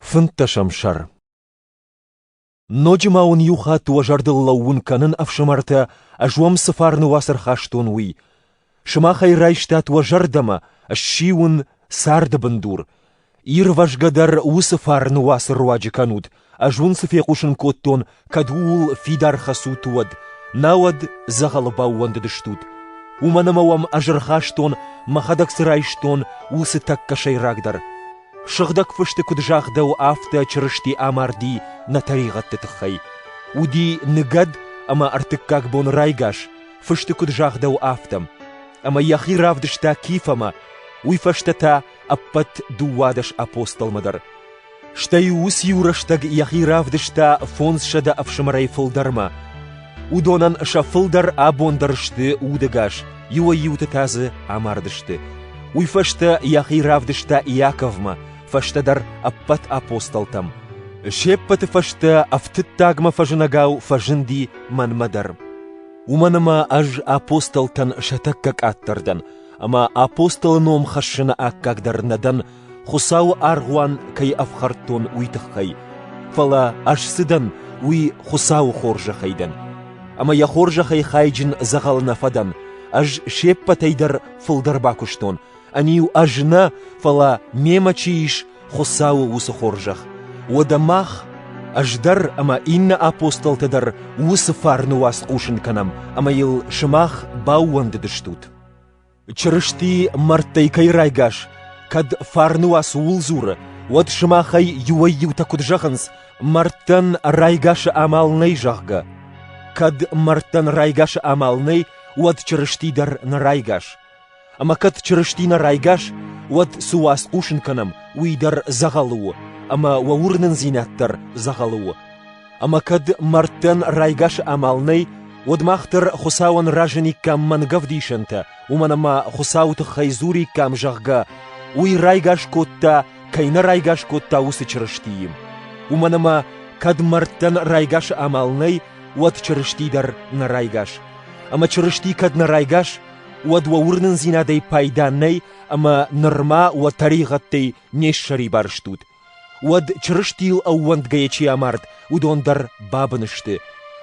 Фынддӕсӕм сӕр Ноджы ма уын иу хатт уӕ зӕрдыл лӕууын кӕнын, ӕфсымӕртӕ, ӕз уӕм цы фарны уацыр хастон, уый. Сымах ӕй райстат уӕ зӕрдӕмӕ, ссиуын царды бындур. Ирвӕзгӕ дӕр уыцы фарны уацы руаджы кӕнут, ӕз уын цы фехъусын кодтон, кӕд ууыл фидар хӕцут, уӕд, науӕд дзӕгъӕлы баууӕндыдыстут. Уымӕн ӕмӕ уӕм ӕз ӕрхастон, мӕхӕдӕг цы райстон, уыцы тӕккӕ сӕйрагдӕр. Сыгъдӕг фысты куыд загъдӕуы, афтӕ Чырысти амарди нӕ тӕригъӕдты тыххӕй. Уыди ныгӕд ӕмӕ ӕртыккаг бон райгас, фысты куыд загъдӕуы, афтӕ. Ӕмӕ йӕхи равдыста Кифӕмӕ, уый фӕстӕ та ӕппӕт дыууадӕс апостолмӕ дӕр. Стӕй-иу уыц-иу рӕстӕг йӕхи равдыста фондзсӕдӕ ӕфсымӕрӕй фылдӕрмӕ. Уыдонӕн сӕ фылдӕр абон дӕр сты удӕгас, иуӕй-иуты та дзы амардысты. Уый фӕстӕ йӕхи равдыста Иаковмӕ, фӕстӕдӕр ӕппӕт апостолтӕм. Се ппӕты фӕстӕ ӕфтыддагмӕ фӕзынӕгау фӕзынди мӕнмӕ дӕр. Уымӕн ӕмӕ ӕз апостолтӕн сӕ тӕккӕ къаддӕр дӕн, ӕмӕ апостолы ном хӕссыны аккаг дӕр нӕ дӕн, Хуыцауы аргъуан кӕй ӕфхӕрдтон, уый тыххӕй, фӕлӕ ӕз цы дӕн, уый Хуыцауы хорзӕхӕй дӕн. Ӕмӕ йӕ хорзӕхӕй хайджын дзӕгъӕл нӕ фӕдӕн. Ӕз се ппӕтӕй дӕр фылдӕр бакуыстон, ӕниу ӕз нӕ, фӕлӕ мемӕ чи ис, Хуыцауы уыцы хорзӕх. Уӕдӕ мах, ӕз дӕр ӕмӕ иннӕ апостолтӕ дӕр уыцы фарны уац хъусын кӕнӕм, ӕмӕ йыл сымах баууӕндыдыстут. Чырысти мӕрдтӕй кӕй райгас, кӕд фарны уац ууыл дзуры, уӕд сымахӕй иуӕй-иутӕ куыд зӕгъынц, мӕрдтӕн райгасы амал нӕй, зӕгъгӕ? Кӕд мӕрдтӕн райгасы амал нӕй, уӕд Чырысти дӕр нӕ райгас. Ӕмӕ кӕд Чырысти нӕ райгас, уӕд цы уац хъусын кӕнӕм, уый дӕр дзӕгъӕлы у, ӕмӕ уӕ уырнындзинад дӕр дзӕгъӕлы у. Ӕмӕ кӕд мӕрдтӕн райгасы амал нӕй, уӕд мах дӕр Хуыцауӕн разыниккам мӕнгӕвдисӕнтӕ, уымӕн ӕмӕ Хуыцауы тыххӕй дзуриккам, зӕгъгӕ, уый райгас кодта, кӕй нӕ райгас кодта, уыцы Чырыстийы. Уымӕн ӕмӕ, кӕд мӕрдтӕн райгасы амал нӕй, уӕд Чырысти дӕр нӕ райгас. Ӕмӕ Чырысти кӕд нӕ райгас, уӕд уӕ уырнындзинадӕй пайда нӕй, ӕмӕ нырма уӕ тӕригъӕдтӕй не ссӕрибар стут. Уӕд Чырыстийыл ӕууӕндгӕйӕ чи амард, уыдон дӕр бабын сты,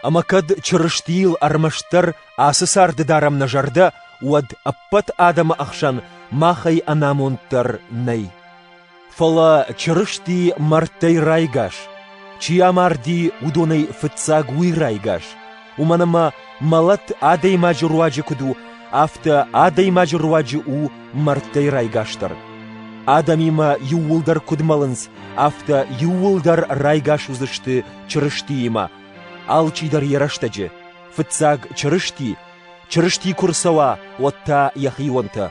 ӕмӕ кӕд Чырыстийыл ӕрмӕстдӕр ацы царды дарӕм нӕ зӕрдӕ, уӕд ӕппӕт адӕмы ӕхсӕн махӕй ӕнамонд дӕр нӕй. Фӕлӕ Чырысти мӕрдтӕй райгас, чи амарди, уыдонӕй фыццаг уый райгас. уымӕн ӕмӕ мӕлӕт адӕймаджы руаджы куыд у, афтӕ адӕймаджы руаджы у мӕрдтӕй райгасдӕр. Адӕмимӕ иууылдӕр куыд мӕлынц, афтӕ иууылдӕр райгас уыдзысты Чырыстиимӕ. Алчидӕр йӕ рӕстӕджы. Фыццаг Чырысти, Чырысти куы рцӕуа, уӕд та йӕхионтӕ.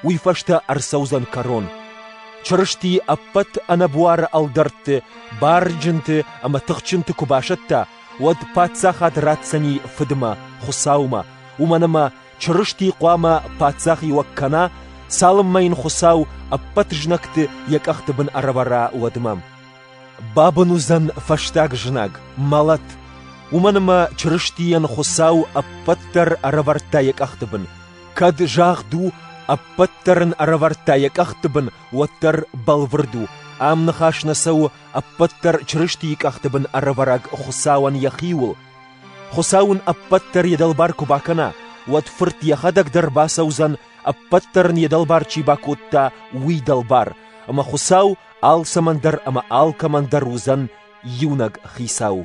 Уый фӕстӕ ӕрцӕудзӕн кӕрон. Чырысти ӕппӕт ӕнӕбуары ӕлдӕртты, барджынты ӕмӕ тыхджынты куы басӕтта, уӕд паддзахад ратдзӕни фыдмӕ, Хуыцаумӕ, уымӕн ӕмӕ Чырысти хъуамӕ паддзахиуӕг кӕна, цалынмӕ йын Хуыцау ӕппӕт знӕгты йӕ къӕхты бын ӕрӕвӕра, уӕдмӕ. Бабын уыдзӕн фӕстаг знаг, мӕлӕт, уымӕн ӕмӕ Чырыстийӕн Хуыцау ӕппӕт дӕр ӕрӕвӕрдта йӕ къӕхты бын. Кӕд загъд у, ӕппӕт дӕр ын ӕрӕвӕрдта йӕ къӕхты бын, уӕддӕр бӕлвырд у, ам ныхас нӕ цӕуы ӕппӕт дӕр Чырыстийы къӕхты бын ӕрӕвӕрӕг Хуыцауӕн йӕхиуыл. Хуыцау ын ӕппӕт дӕр йӕ дӕлбар куы бакӕна, уӕд Фырт йӕхӕдӕг дӕр бацӕудзӕн, ӕппӕт дӕр ын йӕ дӕлбар чи бакодта, уый дӕлбар, ӕмӕ Хуыцау алцӕмӕн дӕр ӕмӕ алкӕмӕн дӕр уыдзӕн иунӕг Хицау.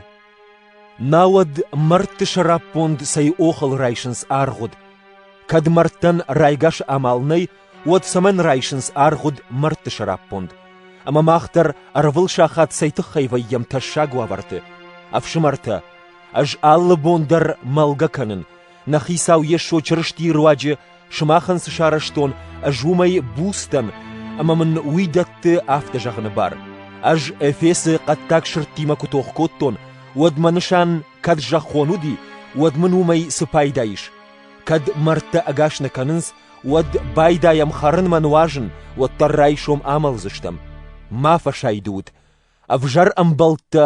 Науӕд мӕрдты сӕраппонд цӕй охыл райсынц аргъуыд? Кӕд мӕрдтӕн райгас амал нӕй, уӕд цӕмӕн райсынц аргъуыд мӕрдты сӕраппонд? Ӕмӕ мах дӕр ӕрвыл сахат цӕй тыххӕй вӕййӕм тӕссаг уавӕрты? Ӕфсымӕртӕ, ӕз алы бон дӕр мӕлгӕ кӕнын, нӕ Хицау Йесо Чырыстийы руаджы сымахӕн цы сарӕзтон, ӕз уымӕй буц дӕн, ӕмӕ мын уый дӕтты афтӕ зӕгъыны бар. Ӕз Эфесы хъӕддаг сырдтимӕ куы тох кодтон, уӕд мӕ нысан кӕд зӕххон уыди, уӕд мын уымӕй цы пайда ис? Кӕд мӕрдтӕ ӕгас нӕ кӕнынц, уӕд байдайӕм хӕрынмӕ нуазын, уӕддӕр райсом амӕлдзыстӕм. Ма фӕсайды ут! Ӕвзӕр ӕмбӕлттӕ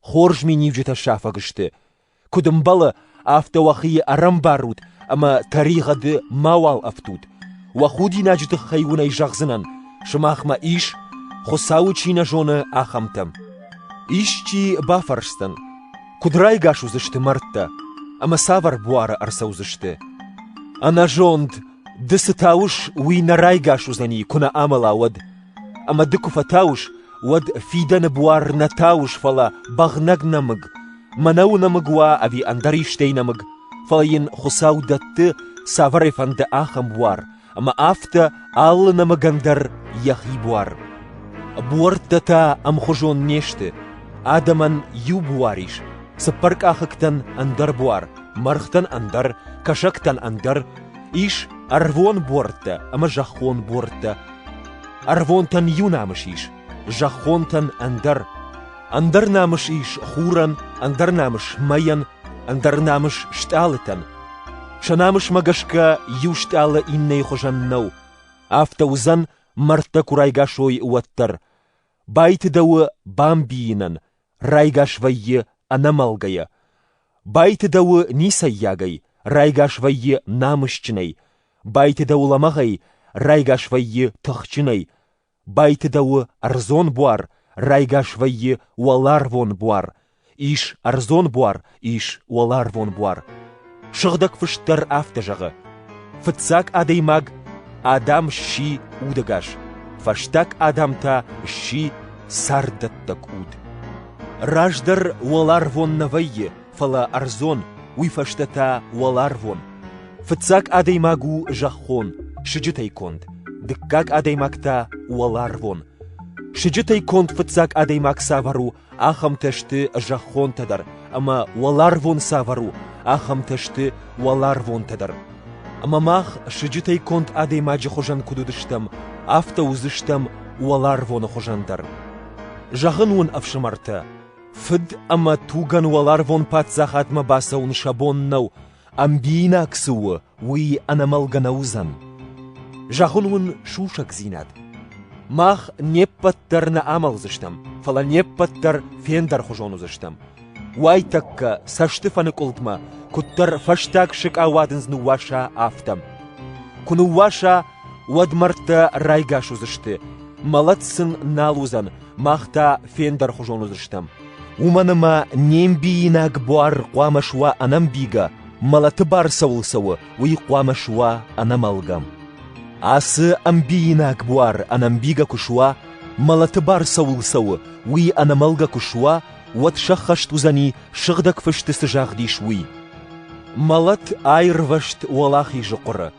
хорз миниуджытӕ сафӕг сты. Куыд ӕмбӕлы, афтӕ уӕхи ӕрӕмбарут ӕмӕ тӕригъӕды мауал ӕфтут. Уӕ худинаджы тыххӕй уынӕй зӕгъдзынӕн, сымахмӕ ис, Хуыцауы чи нӕ зоны, ахӕмтӕ. Исчи бафӕрсдзӕн: Куыд райгас уыдзысты мӕрдтӕ ӕмӕ цавӕр буары ӕрцӕудзысты? Ӕнӕзонд ды цы тауыс, уый нӕ райгас уыдзӕни, куы нӕ амӕла, уӕд. Ӕмӕ ды куы фӕтауыс, уӕд фидӕны буар нӕ тауыс, фӕлӕ бӕгънӕг нӕмыг. Мӕнӕ у нӕмыг уа ӕви ӕндӕр истӕй нӕмыг, фӕлӕ йын Хуыцау дӕтты, цавӕрӕй фӕнды ахӕм буар, ӕмӕ афтӕ алы нӕмыгӕн дӕр йӕхи буар. Буӕрттӕ та ӕмхуызон не сты, адӕмӕн иу буар ис, цыппар къахыгтӕн ӕндӕр буар, мӕргътӕн ӕндӕр, кӕсӕгтӕн ӕндӕр, ис ӕрвон буӕрттӕ ӕмӕ зӕххон буӕрттӕ. Ӕрвонтӕн иу намыс ис, зӕххонтӕн ӕндӕр. Ӕндӕр намыс ис хурӕн, ӕндӕр намыс мӕйӕн, ӕндӕр намыс стъалытӕн. Сӕ намысмӕ гӕсгӕ иу стъалы иннӕйы хуызӕн нӕу, афтӕ уыдзӕн, мӕрдтӕ куы райгасой, уӕддӕр. Байтыдӕуы бамбийынӕн, райгас вӕййы ӕнӕмӕлгӕйӕ. Байтыдӕуы ницӕййагӕй, райгас вӕййы намысджынӕй. Байтыдӕуы лӕмӕгъӕй, райгас вӕййы тыхджынӕй. Байтыдӕуы ӕрдзон буар, райгас вӕййы уӕларвон буар, ис ӕрдзон буар, ис уӕларвон буар. Сыгъдӕг фыст дӕр афтӕ зӕгъы: Фыццаг адӕймаг Адам сси удӕгас, фӕстаг Адам та сси царддӕттӕг уд. Раздӕр уӕларвон нӕ вӕййы, фӕлӕ ӕрдзон, уый фӕстӕ та уӕларвон. Фыццаг адӕймаг у зӕххон, сыджытӕй конд, дыккаг адӕймаг та уӕларвон. Сыджытӕй конд фыццаг адӕймаг цавӕр у, ахӕмтӕ сты зӕххонтӕ дӕр, ӕмӕ уӕларвон цавӕр у, ахӕмтӕ сты уӕларвонтӕ дӕр. Ӕмӕ мах сыджытӕй конд адӕймаджы хуызӕн куыд уыдыстӕм, афтӕ уыдзыстӕм уӕларвоны хуызӕн дӕр. Зӕгъын уын, ӕфсымӕртӕ, Фыд ӕмӕ тугӕн уӕларвон паддзахадмӕ бацӕуын сӕ бон нӕу, ӕмбиинаг цы у, уый ӕнӕмӕлгӕ нӕ уыдзӕн. Зӕгъын уын сусӕгдзинад. Мах не ппӕт дӕр нӕ амӕлдзыстӕм, фӕлӕ не ппӕт дӕр фендӕрхуызон уыдзыстӕм. Уайтӕккӕ цӕстыфӕныкъуылдмӕ куыддӕр фӕстаг сыкъа уадындз ныууаса, афтӕ. Куы ныууаса, уӕд мӕрдтӕ райгас уыдзысты, мӕлӕт сын нал уыдзӕн, мах та фендӕрхуызон уыдзыстӕм. Уымӕн ӕмӕ не мбийинаг буар хъуамӕ суа ӕнӕмбийгӕ, мӕлӕты бар цӕуыл цӕуы, уый хъуамӕ суа ӕнӕмӕлгӕ. Ацы ӕмбийинаг буар ӕнӕмбийгӕ куы суа, мӕлӕты бар цӕуыл цӕуы, уый ӕнӕмӕлгӕ куы суа, уӕд сӕххӕст уыдзӕни, сыгъдӕг фысты цы загъдис, уый. Мӕлӕт аирвӕзт уӕлахизы хъуыры,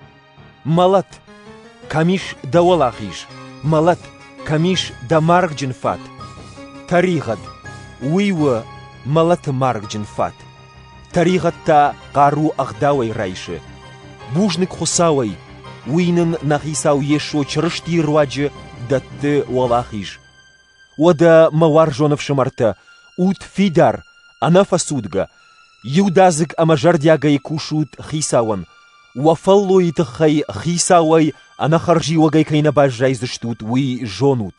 Мӕлӕт, кӕм ис дӕ уӕлахиз, мӕлӕт, кӕм ис дӕ маргджын фат. Тӕригъӕд, уый у мӕлӕты маргджын фат. Тӕригъӕд та хъару ӕгъдауӕй райсы. Бузныг Хуыцауӕй, уый нын нӕ Хицау Йесо Чырыстийы руаджы дӕтты уӕлахиз. Уӕдӕ, мӕ уарзон ӕфсымӕртӕ, ут фидар, ӕнӕфӕцудгӕ, иудадзыг ӕмӕ зӕрдиагӕй кусут Хицауӕн, Уӕ фӕллойы тыххӕй хицауӕй ӕнӕхӕрзиуӕгӕй кӕй нӕ баззайдзыстут, уый зонут.